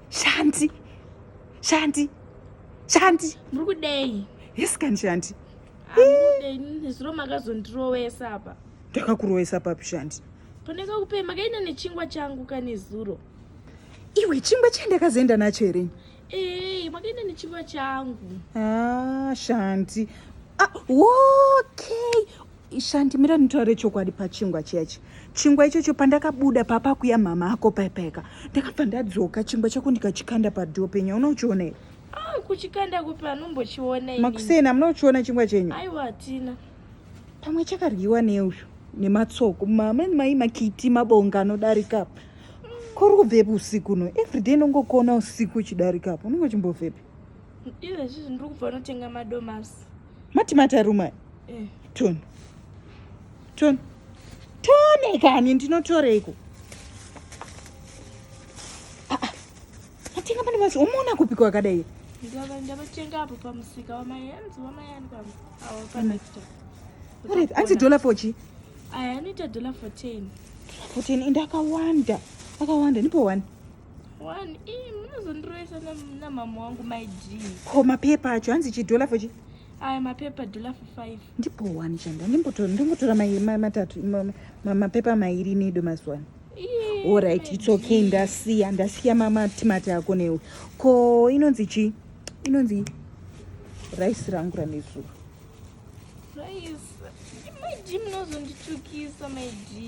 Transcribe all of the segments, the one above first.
shanti shanti shanti muri kudei yes kani shanti zviro makazondirowesa apa ndakakurowesa papi shanti paneka kupei makaenda nechingwa changu kane zuro iwe chingwa chandakazoenda nacho here ee eh, makaenda nechingwa changu ah, shanti ah, okay Shanti mira nditaure chokwadi pachingwa chiyachi chingwa ichocho pandakabuda papa kuya mama ako paipayeka ndakabva ndadzoka chingwa chako ndikachikanda padhoo penya unochiona here ah, kuchikanda kupi anombochiona makuseni amuna kuchiona chingwa chenyu aiwa hatina pamwe chakaryiwa neuyu nematsoko mamani mai makiti mabonga anodarika apa kuri kubvepi usiku no everyday ndongokuona usiku uchidarika apa unenge uchimbobvepi izvezvi zvindiri kubva unotenga madomasi mati mataruma eh. ton ton tone kani ndinotoreiko ah, ah. matenga pane masi umaona kupi kwakadai ndavatenga apo pamusika wamayanzi wamayani anzi dollar for chi aya anoita dollar for ten for ten and akawanda akawanda nipo one One, ii, munozondiroesa nam- namama wangu my g ko mapepa acho hanzi chidhola fochi aya mapepa dollar for five ndibhowani chanda ndimbotora ndingotora mai- ma- matatu ma- ma- mapepa mairi nedo mazuwani Ii, orit my its okay G. ndasiya ndasiya mamatimati ako newe ko inonzi chii inonzi raisi rangu ranezuro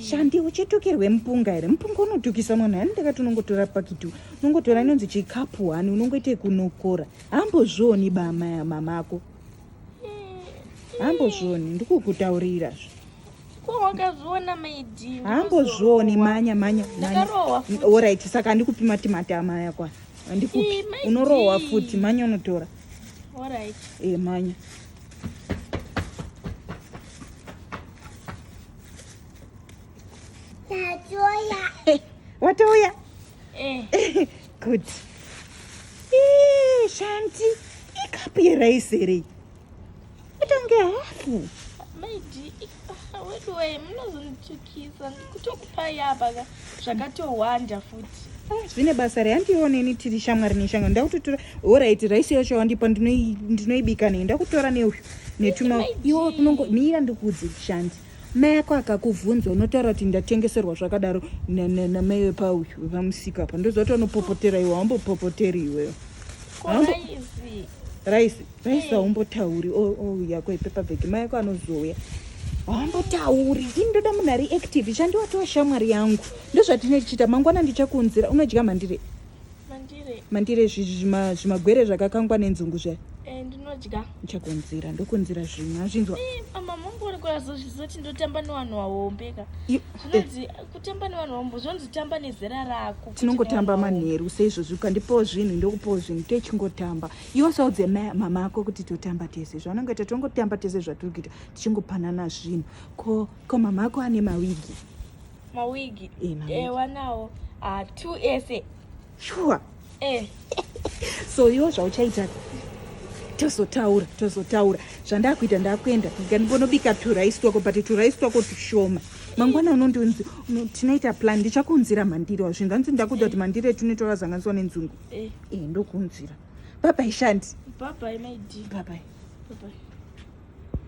shandi uchitukirwe mupunga here mupunga unotukisa mwana hani ndakati unongotora pakiti unongotora inonzi chikapu wani unongoita kunokora hambozvioni bamaya mamako hambozvioni ndikukutaurira zve wakazviona maidi hambozvioni manya manya orit saka handikupi matimati amaya kwa handikupi unorohwa futi manya unotora e manya watouya eh. good eh, shanti ikapu yeraisi here itange hafu maidi weduwee munozondichiti Kisa kutokupai apa ka zvakatowanda futi. Ah, zvine basa re handioneni tiri shamwari neshanga ndakutotora orit raisi yacho yawandipa ndinoibika nei ndakutora neuyu netuma iwo kunongo mira ndikuudze chishandi mai yako akakuvhunza unotaura kuti ndatengeserwa zvakadaro namai wepauyu vamusika apa ndozoti anopopotera iwe haumbopopoteri iweyo raisi Raisa umbotauri ouya kwepepa bhegi mai ako anozouya hambotauri ini ndoda munhu ari active chandi watova shamwari yangu ndozvatine tichiita mangwana ndichakuunzira unodya mandire mandire zvimagwere zvakakangwa nenzungu zvayo eh, ndinodya ndichakuunzira ndokuunzira zvimwe azvinzwa eh, amamongorikoazozvizoti ndotamba nevanhu vahombeka eh. zvinonzi kutamba nevanhu vahombo zvinonzi tamba nezera rako tinongotamba manheru seizvozvi ukandipawo zvinhu ndokupawo zvinhu techingotamba iwo saudze mama ako kuti totamba tese zvaunongoita tongotamba tese zvatiri kuita tichingopanana zvinhu ko ko mama ako ane mawigi mawigi ewa eh, nawo ah, two ese shuwa eh. so iwo zvauchaita tozotaura tozotaura zvandakuita ndakuenda ndikandibonobika turice twako but turice twako tushoma mangwana unondinzi tinoita plan ndichakuunzira mandiro zvinhu zvanzi ndakuda kuti mandiro etunotora zanganiswa nenzungu eh, eh ndokunzwira bye bye shandi bye bye my dear bye bye bye bye